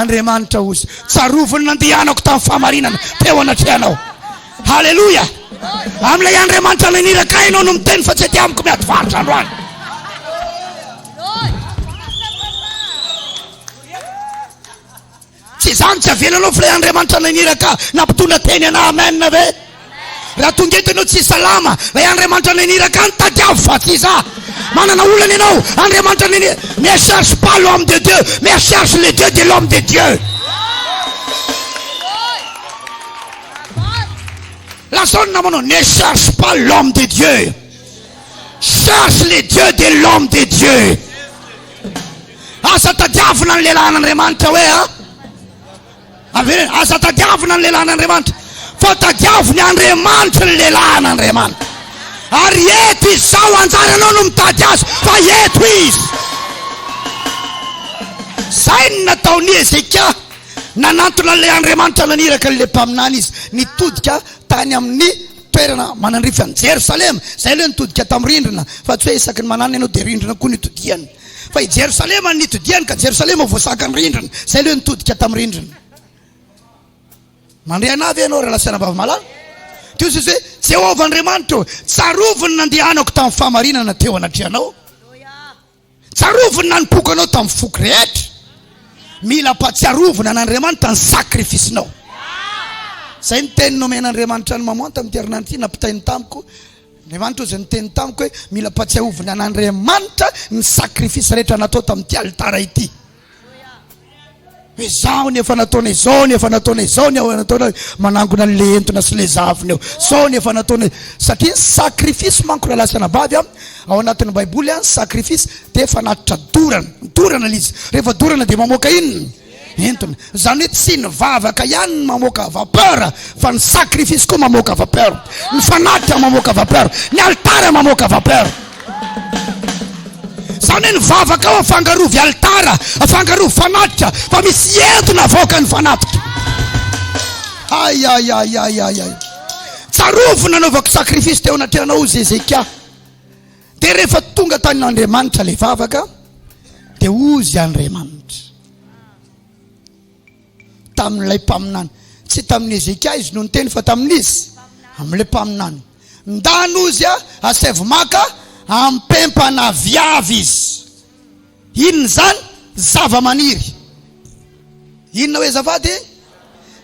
Andriamanitra ozy tsaroviny nandehanako tamin'ny fahamarinana teo anatrehanao. Haleloia! Amin'ilay Andriamanitra ilay niraka ahy ianao no miteny fa tsy aty amiko miady varotra androany. Tsy izany tsy avelanao fa ilay Andriamanitra ilay niraka nampitondra teny anah. Amen ve? Raha tonga eto ianao tsy salama, ilay Andriamanitra naniraka any, tadiavo fa tsy za. Manana olana ianao, Andriamanitra naniraka. Ne cherche pas l'homme de Dieu, mais cherche le Dieu de l'homme de Dieu. Lazao ny namanao, ne cherche pas l'homme de Dieu. Cherche le Dieu de l'homme de Dieu. Aza tadiavina ny lehilahin'Andriamanitra hoe a. Ah. Avy eo, aza tadiavina ny lehilahin'Andriamanitra, fa tadiavo ny Andriamanitry ny lehilahin'Andriamanitra. Ary eto izy, sao hanjary ianao no mitady azy, fa eto izy. Izay no nataon'i Hezekia, nanantona an'ilay Andriamanitra naniraka an'ilay mpaminany izy, nitodika tany amin'ny toerana manandrify an'i Jerosalema. Izay aloha nitodika tamin'ny rindrina, fa tsy hoe isaky ny mananina ianao dia rindrina koa no itodihany. Fa i Jerosalema no nitodihany, ka Jerosalema ho voasakan'ny rindrina. Izay aloha nitodika tamin'ny rindrina. Mandre anah ve ianao ry lasanà vavy-malala? Teo Jesosy hoe, Jehovah Andriamanitro, tsarovy ny nandehanako tamin'ny fahamarinana teo anatrehanao. Tsarovy ny nanompoako anao tamin'ny foko rehetra. Mila ampahatsiarovina an'Andriamanitra ny sakrifisinao. Izay ny teny nomen'Andriamanitra an'i Maman tamin'ity herinandro ity, nampitainy tamiko, Andriamanitra hoy izay niteny tamiko hoe, Mila ampatsiahovina an' Andriamanitra ny sakrifisy rehetra natao tamin'ity alitara ity. Hoe izao ny efa nataonay, izao ny efa nataonay, izao ny efa nataonay, manangona ny lehentona sy lezavina eo, izao ny efa nataonay. Satria ny sakrifisy manko rahalahy sy anabavy an, ao anatin'ny Baiboly an, ny sakrifisy dia fanatitra dorana. Dorana ilay izy. Rehefa dorana dia mamoaka inona? entiny. Izany hoe tsy ny vavaka ihany no mamoaka vapeur fa ny sacrifice koa mamoaka vapeur. Ny fanatika mamoaka vapeur. Ny alitara mamoaka vapeur. Izany hoe ny vavaka ao afangarovy alitara, afangarovy fanatika fa misy entona avoakan'ny fanatika. Ay, ay, ay, ay, ay, ay. Tsarovy nanaovako sacrifice teo anatrehanao Zezekia. Dia rehefa tonga tany Andriamanitra ilay vavaka dia hozy Andriamanitra tamin'ilay mpaminany tsy tamin'ny Hezekia izy no niteny fa tamin'izy amin'ilay mpaminany ndany hozy a asaivo maka ampempana viavy izy inona izany zava-maniry inona hoe zava-de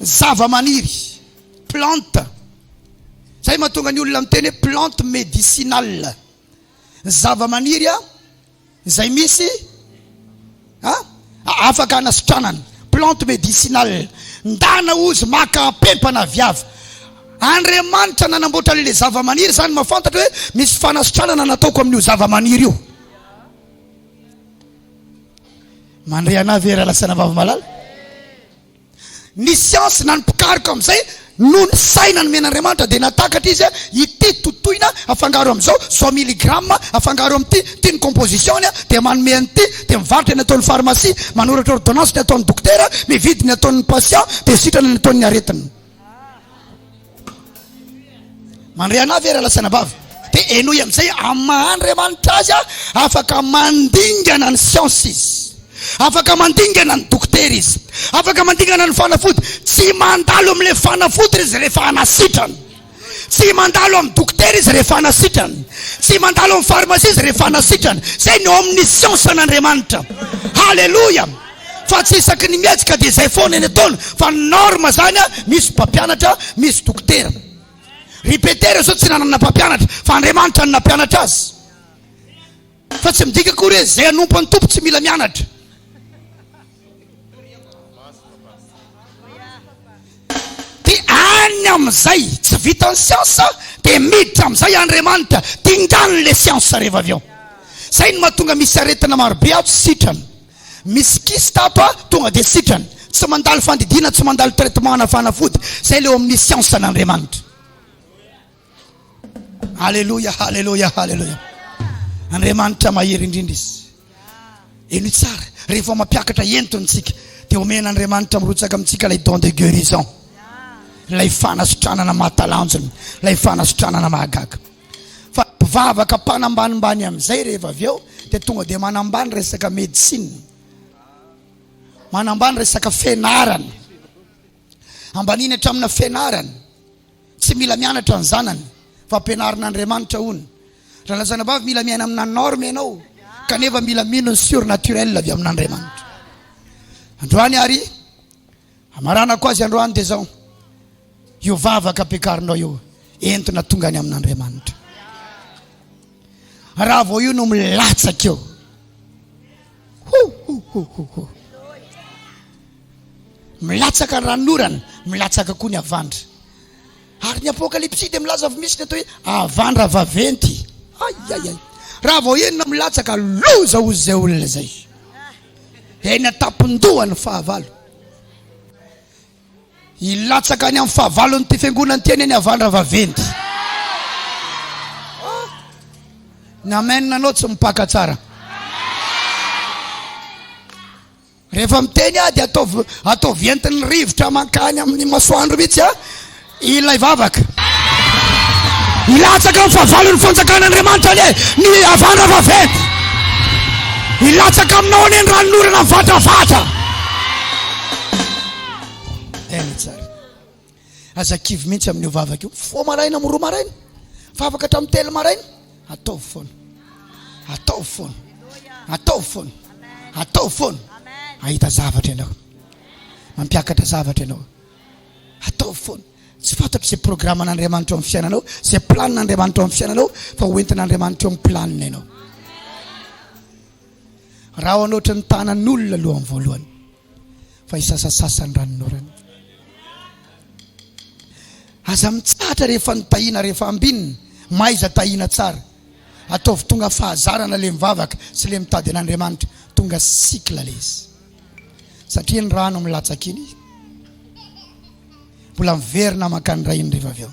zava-maniry Plante. Zay mahatonga ny olona miteny hoe plante medicinale. Ny zavamaniry a, zay misy a, afaka anasitranana. Plante medicinale. Ndana ozy maka ampempana avy avy. Andriamanitra nanamboatra an'ilay zavamaniry zany mahafantatra hoe misy fanasitranana nataoko amin'io zavamaniry io. Mandre anah ve raha lasana vavy malala? Ny siansa na ny mpikaroka amin'izay no ny saina nomen'Andriamanitra dia nahatakatra izy ity totoina afangaro amin'izao, izao miligrama afangaro amin'ity, ity ny composition-ny dia manome an'ity, dia mivarotra ny ataon'ny pharmacie, manoratra ordonnance ny ataon'ny dokotera, mividy ny ataon'ny patient dia sitrana ny ataon'ny aretina. Mandre anah ve ralasaina vavy? Dia henoy amin'izay amin'ny maha Andriamanitra azy aho, afaka mandingana ny siansa izy, afaka mandingana ny dokotera izy, afaka mandingana ny fanafody. Tsy mandalo amin'ilay fanafody izy rehefa hanasitrana, tsy mandalo amin'ny dokotera izy rehefa hanasitrana, tsy mandalo amin'ny farmasia izy rehefa hanasitrana. Izay ny ao amin'ny siansan'Andriamanitra. Haleloia! fa tsy isaky ny mietsy ka dia izay foana eny ataony fa ny norme zany a misy mpampianatra misy dokotera ry petera zao tsy nanana mpampianatra fa andriamanitra no nampianatra azy fa tsy midika akory hoe zay anompo any tompo tsy mila mianatra dia any amizay tsy vita ny siansa dia miditra amizay andriamanitra dingany le siansa rehefa avy eo zay ny mahatonga misy aretina marobe ato sitrana Misy kiss tato a, tonga dia sitrana. Tsy mandalo fandidiana, tsy mandalo traitement na fanafody. Zay le eo amin'ny siansa an'Andriamanitra. Aleloia, aleloia, aleloia. Andriamanitra mahery indrindra izy. Eny tsara, rehefa mampiakatra entony tsika, dia omena Andriamanitra mirotsaka amintsika ilay don de guérison. Ilay fanasitranana mahatalanjona, ilay fanasitranana mahagaga. Fa mpivavaka mpanambanimbany amin'izay rehefa avy eo dia tonga dia manambany resaka médecine. Manambany resaka fenarana. Ambaniny hatramina fenarana. Tsy mila mianatra ny zanany fa ampianarin'Andriamanitra hono. Ralazana vavy mila miaina amina norme ianao kanefa mila mino ny surnaturel avy amin'Andriamanitra. Androany ary Hamaranako azy androany dia izao, io vavaka ampiakarinao io, entina tonga any amin'Andriamanitra. Raha vao io no milatsaka eo, ho ho ho ho ho, milatsaka ny ranonorana, milatsaka koa ny havandra. Ary ny Apokalypsy dia milaza fa misy ny atao hoe havandra vaventy. Ayayay. Raha vao enina milatsaka, loza hozy izay olona izay. Eny an-tampon-doha ny fahavalo. Hilatsaka any amin'ny fahavalon'ity fiangonana ity anie ny havandra vaventy. Ny amen anao tsy mipaka tsara. Rehefa miteny aho dia ataovy ataovy entin'ny rivotra mankany amin'ny masoandro mihitsy aho ilay vavaka. Hilatsaka amin'ny fahavalon'ny fanjakan'Andriamanitra anie ny havandra vaventy. Hilatsaka aminao anie ny ranonorana mivatravatra. Tena tsara. Aza kivy mihitsy amin'io vavaka io. Mifoha maraina amin'ny roa maraina. Vavaka hatramin'ny telo maraina. Ataovy foana. Ataovy foana. Ataovy foana. Ataovy foana. Ahita zavatra ianao. Mampiakatra zavatra ianao. Ataovy foana. Tsy fantatro izay programan'Andriamanitra amin'ny fiainanao, izay planin'Andriamanitra amin'ny fiainanao, fa hoentin'Andriamanitra eo amin'ny planina ianao. Rahona ohatry ny tanan'olona aloha amin'ny voalohany. fa hisasasasa ny ranonorana. Aza mitsahatra rehefa nitahiana rehefa ambinina, mahaiza tahiana tsara. Ataovy tonga fahazarana le mivavaka sy le mitady an'Andriamanitra, tonga cycle le izy. Satria ny rano milatsaka iny mbola miverina mankany iray indrivavy eo.